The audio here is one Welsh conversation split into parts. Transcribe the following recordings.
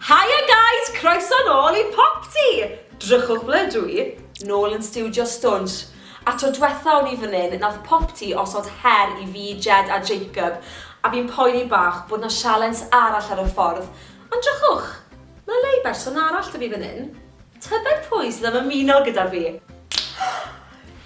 Haia guys, croeso nôl i Popty! Drychwch ble ydw i? Nôl yn stiwdio stwnsh. A tro dwetha o'n i fan hyn, nath Popty osod her i fi, Jed a Jacob, a fi'n poeni bach bod 'na sialens arall ar y ffordd, ond drychwch, ma' 'na le i berson arall 'da fi fan hyn. Tybed pwy sydd am ymuno gyda fi?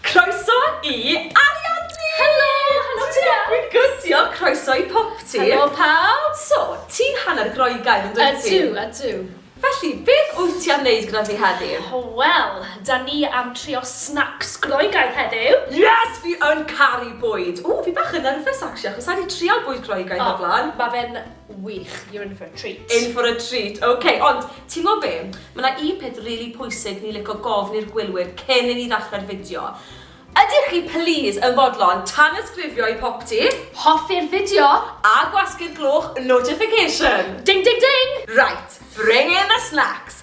Croeso i Ariandy! Helo! Helo ti iawn? Dwi'n good, diolch. Croeso i Popty. Helo pawb! So, ti'n hanner Groegaidd yn dwyt ti? Ydw, ydw. Felly, beth wyt ti am wneud gyda fi heddiw? O wel, da ni am trio snacks Groegaidd heddiw. Yes! Fi yn caru bwyd! Ww, fi bach yn nerfus actually achos sa i 'di trial bwyd Groegaidd o'r blaen. O, ma' fe'n Wych, you're in for a treat. In for a treat, ok. Ond, ti'n gwybod be? Mae yna un peth rili really pwysig ni licio gofn i'r gwylwyr cyn i ni ddechrau'r fideo. Ydych chi, please, yn fodlon tanysgrifio i popty? Hoffi'r fideo? A gwasgu'r gloch notification? Ding, ding, ding! Right, bring in the snacks!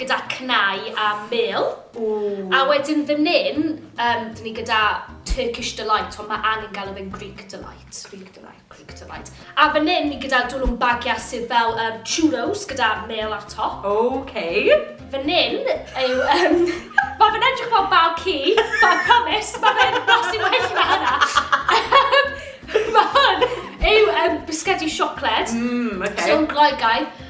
gyda cnau a mêl. Ww. A wedyn fan hyn, um, dyn ni gyda Turkish Delight, ond mae angen gael fe'n Greek Delight. Greek Delight. Greek Delight. A fan hyn, ni gyda dwlwn bagiau sydd fel um, churros gyda mêl ar top. Okay. Fan hyn yw... Um, mae fe'n edrych fel bag ci, but I promise, mae fe'n blasu well na hynna. mae hwn yw um, bisgedi siocled. Mm, okay. So, gloigaidd.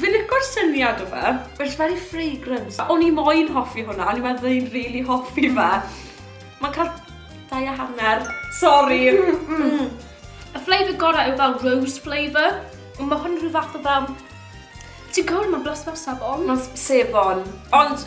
Fi'n licio'r syniad o fe. It's very fragrant. O'n i moyn hoffi hwnna, o'n i meddwl o'n i'n rili hoffi fe. Ma'n cael dau a hanner. Sori! Y flavour gorau yw fel rose flavour. Ond mae hwn rhyw fath o fel... Ti'n gwybod, mae'n blasio fel sebon. Mae'n sebon. Ond...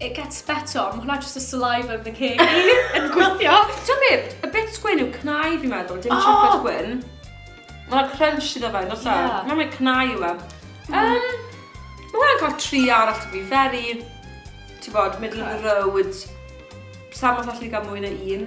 It gets better, ond mae hwnna jyst y saliva yn fy ngheg i yn gweithio. Ti'n be, y bits gwyn yw cnau fi'n meddwl, dim oh! chocolate gwyn. Mae yna crunch iddo fe, nos yeah. Mae'n mynd cnau yw e. Um, mae hwnna'n cael tri arall, to be very, ti'n bod, middle of the road. Sam os allu gael mwy na un.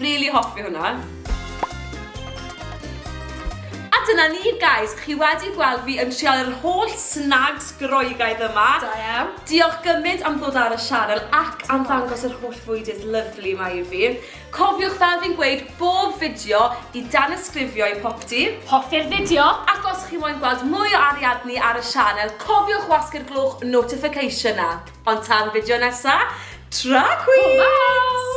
Rili hoffi hwnna. A dyna ni, guys. Chi wedi gweld fi yn trial yr holl snags Groegaidd yma. Da iawn. Diolch gymaint am ddod ar y sianel ac am ddangos yr holl fwydydd lyfli yma i fi. Cofiwch fel fi'n gweud bob fideo i danysgrifio i popty. Hoffi'r fideo. Ac os chi moyn gweld mwy o Ariadne ar y sianel, cofiwch wasgu'r glwch notification 'na. Ond tan fideo nesa, tra queens! Hwyl fawr!